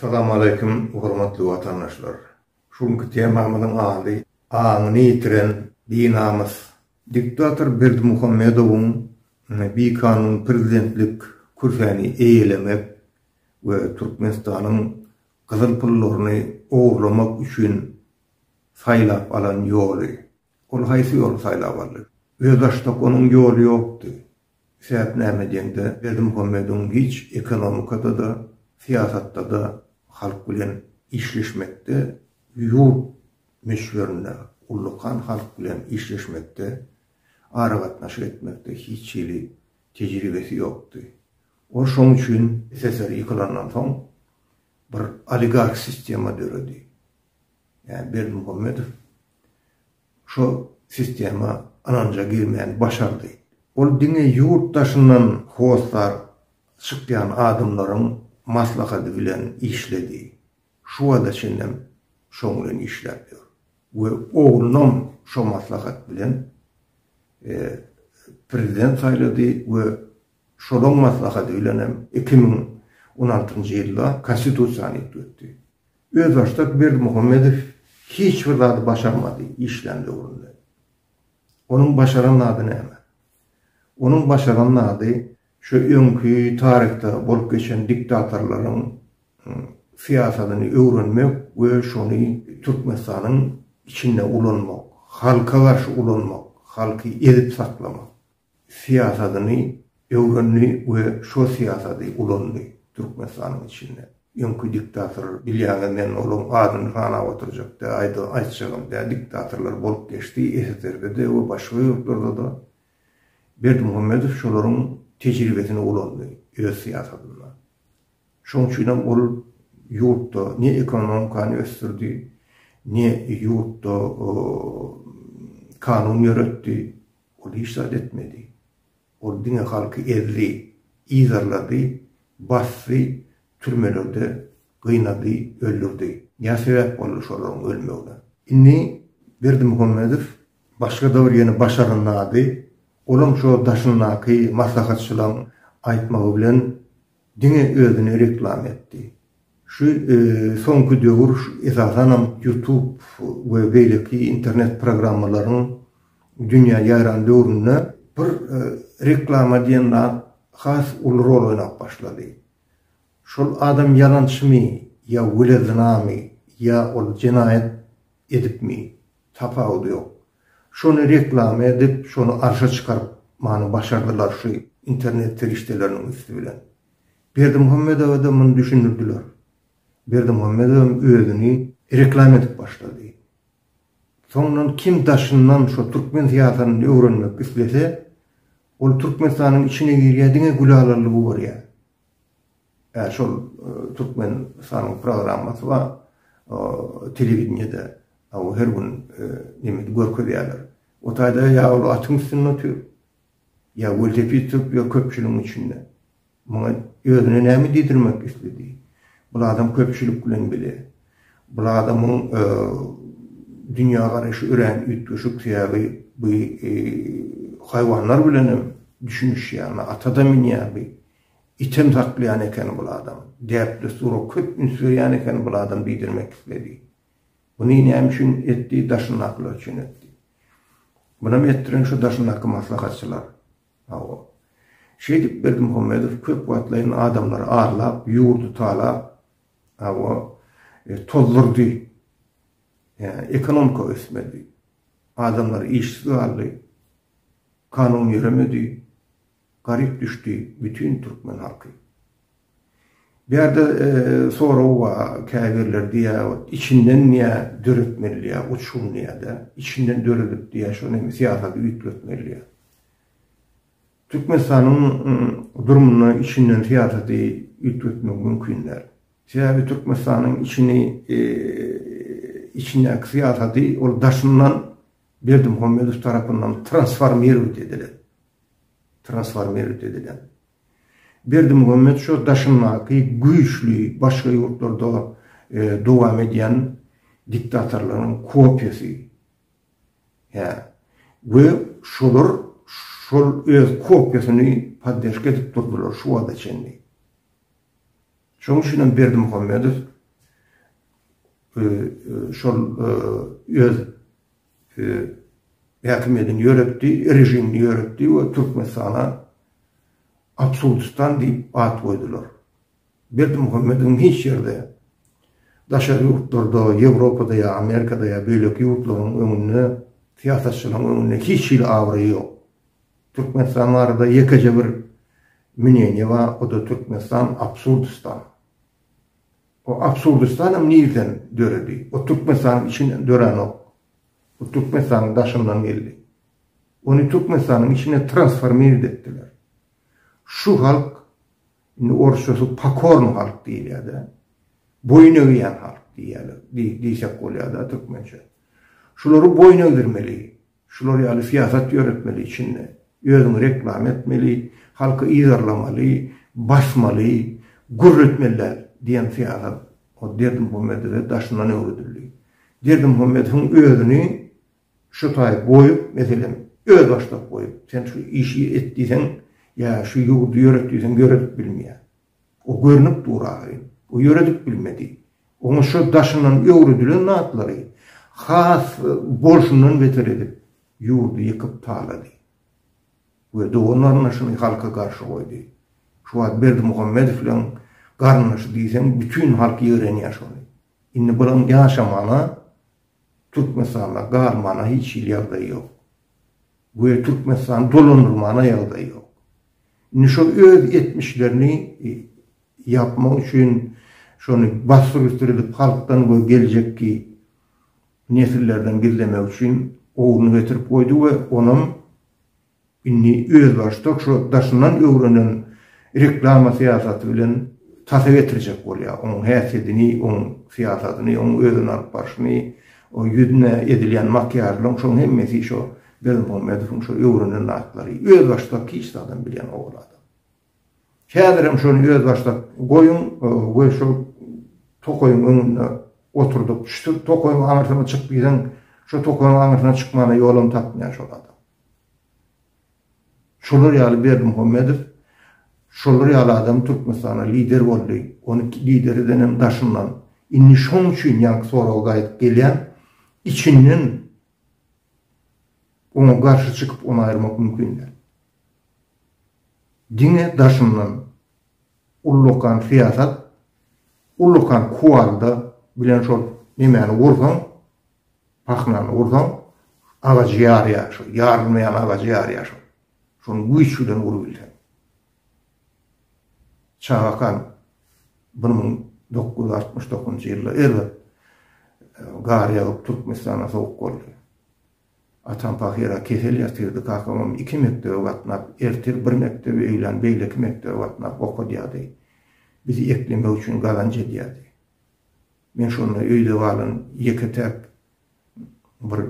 Salamaleýkum hormatly watandaşlar. Şu günki temamyzyň ady Aňyny ýitiren binamys. Diktator Berdimuhamedowyň bikanun prezidentlik kürsäni eýelemek we Türkmenistanyň gyzyl pullaryny ogurlamak üçin saýlap alan ýoly. Ol haýsy ýoly saýlap aldy? Özbaşdak onuň ýoly ýokdy. Sebäp näme diýeňde, Berdimuhamedow giç ekonomikada-da, syýasatda-da halk bilen işleşmekde, ýurt möçberinde ullakan halk bilen işleşmekde, aragatnaşyk etmekde hiç hili tejribesi ýokdy. Ol şoň üçin SSR ýykylandan soň bir oligarh sistema döredi. Ýa Berdimuhamedow şu sistema ynanja girmäni başardy. Ol diňe ýurt daşyndan hossar çykýan adamlaryň maslahady bilen işledi. Şu wagta çenlem şoň bilen işläp ýör we oglunam şo maslahat bilen prezident saýlady we şolaň maslahady bilenem iki müň on altynjy ýylda Konstitusiýany üýtgetdi. Özbaşdak Berdimuhamedow hiç bir zady başarmady işlän döwründe. Onuň başaran zady näme? Onuň başaran zady şu öňki taryhda bolup geçen diktatorlaryň syýasatyny öwrenmek we şony Türkmenistanyň içinde ulanmak, halka garşy ulanmak, halky ezip saklamak. syýasatyny öwrendi we şo syýasaty ulandy Türkmenistanyň içinde. Öňki diktator bilýäňiz men olaň adyny sanap oturjak däl, aýda aýtjagam däl, diktatorlar bolup geçdi SSRB-de we başga ýurtlarda-da. Berdimuhamedow şolaryň tejribesini ulandy öz syýasatynda. Şoň üçinem ol ýurtda ne ekonomikany ösdürdi, ne ýurtda kanun ýöretdi. Ol hiç zat etmedi. Ol diňe halky ezdi, yzarlady, basdy, türmelerde gynady, öldürdi. Nä sebäp boldy şolaryň ölmegine? Indi Berdimuhamedow başga-da bir ýene başarnady. Olam şo daşyndaky maslahatçylaryň aýtmagy bilen Diňe özüne reklama etdi. Şu soňky döwür esasanam YouTube we beýleki internet programmalaryň dünýä ýaýran döwründe bir reklama diýen zat has uly rol oýnap başlady. Şol adam ýalançymy ýa wele zynamy ýa ol jenaýat edipmi Tapawudy ýok. Şony reklama edip, şony arşa çykaryp many başardylar şu internet serişdeleriniň üsti bilen. Berdimuhammedowa-da muny düşündirdiler. Berdimuhammedowam özüni reklama edip başlady. Soňundan kim daşyndan şu türkmen syýasatyny öwrenmek islese, ol Türkmenistanyň içine girýär, diňe Gülalalygy görýär. Ä şol Türkmenistanyň programmasy bar, telewideniýede aw her gün nemede görkezýärler. O taýda ýa ol atyň üstünde otyr, ýa welosiped sürüp ýör köpçüligiň içinde. Muňa özüne näme diýdirmek isledi? Bul adam köpçülik bilen bile. Bul adamyň dünýägaraýşy örän üýtgeşik, sebäbi bu haýwanlar bilenem düşünişýär, ata-da münýär bu. Item saklaýan eken bul adam. Däp-dessura köp üns berýän eken bul adam diýdirmek isledi. Buny näme üçin etdi, daşyndakylar üçin etdi. Bunam etdiren şu daşyndaky maslahatçylar. Hawa. Şeýdip Berdimuhamedow köp wagtlaýyn adamlary arlap, ýurdy talap, hawa, e, tozdurdy. Ýa, ekonomika ösmedi. Adamlar işsiz galdy. Kanun ýöremedi. Garyp düşdi bütün türkmen halky. Bu ýerde sorag bar, käbirler diýýär, içinden diýýär döretmeli diýýär, uçgun diýýär-de, içinden döredip diýýär, şony hem syýasaty üýtgetmeli diýýär. Türkmenistanyň durumyny içinden syýasaty üýtgetmek mümkin däl. Sebäbi Türkmenistanyň içini, içindäki syýasaty ol daşyndan Berdimuhamedow tarapyndan transformirować edilen. transformerli edilen. Berdimuhammet şo daşyndaky güýçli başga ýurtlarda dowam edýän diktatorlaryň kopiýasy. Hä. We şolar şol öz kopiýasyny poddežka edip durdylar şu wagta çenli. Şoň üçin hem Berdimuhammedow şol öz häkimiýetini ýöretdi, režimini ýöretdi we Türkmenistana Absurdistan diýip at goýdular. Berdimuhamedowyň hiç ýerde, daşary ýurtlarda, Ýewropada ýa Amerikada ýa beýleki ýurtlaryň öňünde, syýasatçylaryň öňünde hiç hili abraýy ýok. Türkmenistan barada ýekeje bir mneniýe bar, o-da Türkmenistan Absurdistan. O absurdistanam nirden döredi? O Türkmenistanyň içinden döränok. O Türkmenistanyň daşyndan geldi. Ony Türkmenistanyň içine transformirit etdiler. Şu halk, indi orsçasy pokorny halk diýilýär-de, boýun egýän halk diýýärler, diýsek bolýar-da türkmençe. Şulary boýun egdirmeli. Şular ýaly syýasat ýöretmeli içinde. Özüňi reklama etmeli, halky yzarlamaly, basmaly, gürletmeli däl diýen syýasat ol Berdimuhamedowe daşyndan öwredildi. Berdimuhamedowyň özüni şu taýy goýup, meselem, özbaşdak goýup, sen şu işi et diýseň ýa şu ýurdy ýöret diýseň ýöredip bilmeýär. O görnüp dur ahyryn. O ýöredip bilmedi. Oňa şo daşyndan öwredilen zatlary has bolşundan beter edip, ýurdy ýykyp talady. We dogan-garyndaşyny halka garşy goýdy. Şu wagt Berdimuhamedowlaň garyndaşy diýseň bütin halk ýigrenýär şony. Indi bulaň ýaşamana, Türkmenistanda galmana hiç hili ýagdaýy ýok. we Türkmenistany dolandyrmana ýagdaý ýok. Indi şo öz etmişlerini ýapmak üçin şony bassyr üstür edip halkdan we geljekki nesillerden gizlemek üçin owuny getirip goýdy we onam indi özbaşdak şo daşyndan öwrenen reklama syýasaty bilen tasa getirjek bolýar. Oň häsiýetini, oň syýasatyny, oň özüni alyp barşyny O ýüzüne edilýän makiýažlaryň şoň hemmesi şo Berdimuhamedowyň şo öwrenen zatlary. Özbaşdak hiç zadam bilýän owal adam. Häzirem şony özbaşdak goýuň we şo tokaýyň öňünde oturdyp, şu tokaýyň aňyrsyna çyk diýseň, şo tokaýyň aňyrsyna çykmana ýolam tapmaýan şol adam. Şolar ýaly Berdimuhamedow şolar ýaly adam Türkmenistana lider boldy, ony lider edenem daşyndan. Indi şoň üçin ýaňky soraga gaýdyp gelýän, içinden oňa garşy çykyp ony aýyrmak mümkin däl. Diňe daşyndan ullakan syýasat, ullakan kuwalda bilen şol nemäni gursaň Pahnany ursaň, agajy ýarýar şo, ýarylmaýan agajy ýarýar şo. Şony güýç bilen urubilseň. Çagakan bir müň dokuz ýüz altmyş dokuzynjy ýylda erbet gar ýagyp Türkmenistana sowuk boldy. Atam pahyra kesel ýatyrdy, kakamam iki mekdebe gatnap, ertir bir mekdebe, öýlän beýleki mekdebe gatnap okadýardy. Bizi eklemek üçin gazanç edýärdi. Men şonda öýde galan ýeke-täk bir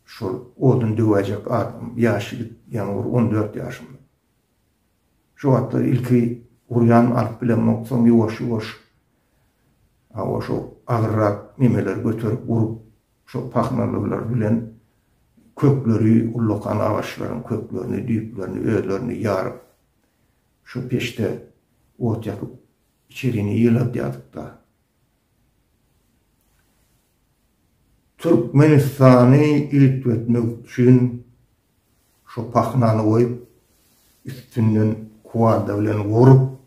şol odun döwäýjek adam, ýaş ýigit, ýaňy bir on dört ýaşymda. Şo wagtlar ilki urýan alyp bilemok, soň ýuwaş-ýuwaş hawa şo agyrrak nemeleri göterip urup, şo pahnalylary bilen kökleri, ullakan agaçlaryň köklerini, düýplerini özlerini ýaryp, şo peçde ot ýakyp Içerini ýyladýardyk-da. Türkmenistany iltwetmek üçin şo pahnany goýup, üstünden kuwalda bilen urup,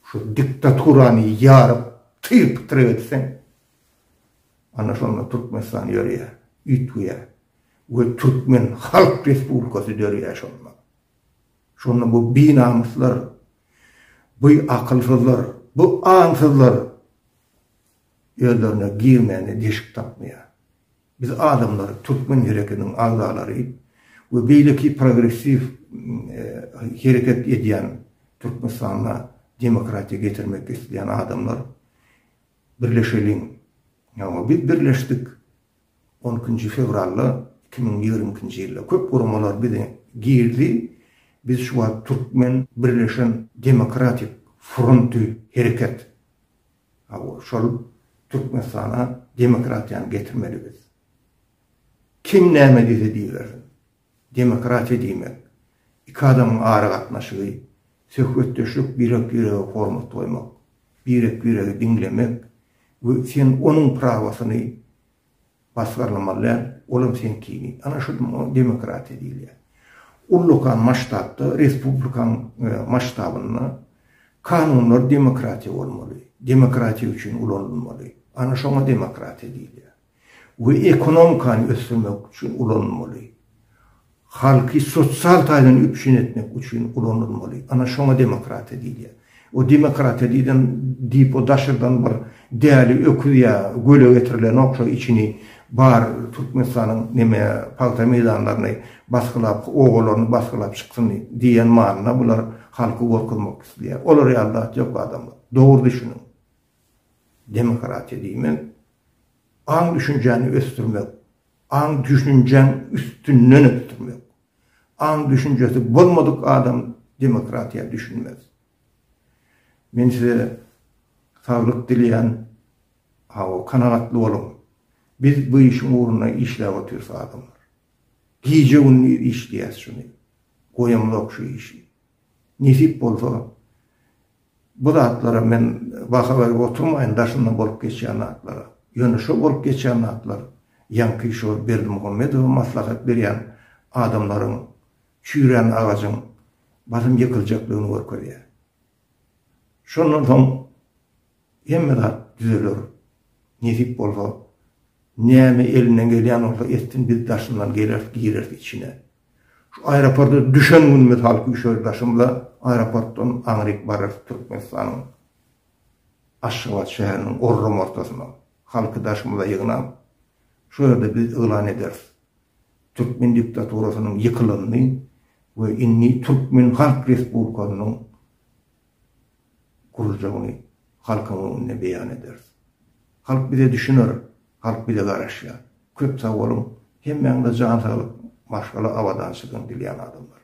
şu diktaturany ýaryp, tyr-pytyr etseň, ana şonda Türkmenistan ýörýär, üýtgeýär we türkmen halk respublikasy dörýär şonda. Şonda bu binamyslar Bu akylsyzlar, bu aňsyzlar özlerine girmäne deşik tapmaýar. Biz adamlary, türkmen hereketiniň agzalary we beýleki progressiw hereket edýän Türkmenistanda demokratiýa getirmek isleýän adamlar birleşeliň. Ýa biz birleşdik, On ikinji fewralda iki müň ýigrimi ikinji ýylda köp guramalar bize girdi. Biz şu wagt Türkmen birleşen demokratik fronty hereket. Hawa, şol Türkmenistana demokratiýany getirmeli biz. Kim näme diýse diýibersin. Demokratiýa diýmek, iki adamyň aragatnaşygy, söhbetdeşlik, birek-birege hormat goýmak, birek-biregi diňlemek we sen onuň prawasyny basgyrlamaly däl, olam seňkini. Ana şu demokratiýa diýilýär. Ullakan masştabda, respublikan masştabynda kanunlar demokratiýa bolmaly, demokratiýa üçin ulanylmaly. Ana şoňa demokratiýa diýilýär. we ekonomikany ösdürmek üçin ulanylmaly. Halky sosial taýdan üpjün etmek üçin ulanylmaly. Ana şoňa demokratiýa diýilýär. O demokratiýa diýden diýip o daşardan bir däli öküz ýa göle getirilenok şo içini bar Türkmenistanyň neme pagta meýdanlaryny basgylap obalaryny basgylap çyksyn diýen manyna bular halky gorkuzmak isleýär. Olar ýaly zat ýok adamlar. Dogry düşüniň. Demokratiýa diýmek, aň-düşünjäni ösdürmek, aň-düşünjäň üstünden ösdürmek. Aň-düşünjesi bolmadyk adam demokratiýa düşünmez. Men size saglyk dileýän, hawa, kanagatly boluň. Biz bu işiň ugrunda işläp otyrys adamlar. Gije-gündiz işleýäs şuny. Goýamzok şu işi. Nesip bolsa, Bu zatlara men baha berip oturmaýyn, daşyndan bolup geçýän zatlara. Ýöne şo bolup geçýän zatlar ýaňky şo Berdimuhamedowa maslahat berýän adamlaryň çüýrän agajyň basym ýykyljakdygyny görkezýär. Şondan soň hemme zat düzeler. Nesip bolsa, näme elinden gelýän bolsa etsin, biz daşyndan geleris, gireris içine. Şu aeroporta düşen gün mysal küşer daşymda aeroportdan aňryk bararys Türkmenistanyň Aşgabat şäheriniň orram ortasyna halky daşymyza ýygnap, şo ýerde biz yglan ederis türkmen diktaturasynyň ýykylanyny we indi türkmen halk respublikasynyň gurjagyny halkyň öňünde beýan ederis. Halk bize düşüner, halk bize garaşýar. Köp sag boluň, hemmäňize jan saglyk, maşgala abadançylygyny dilýän adamlar.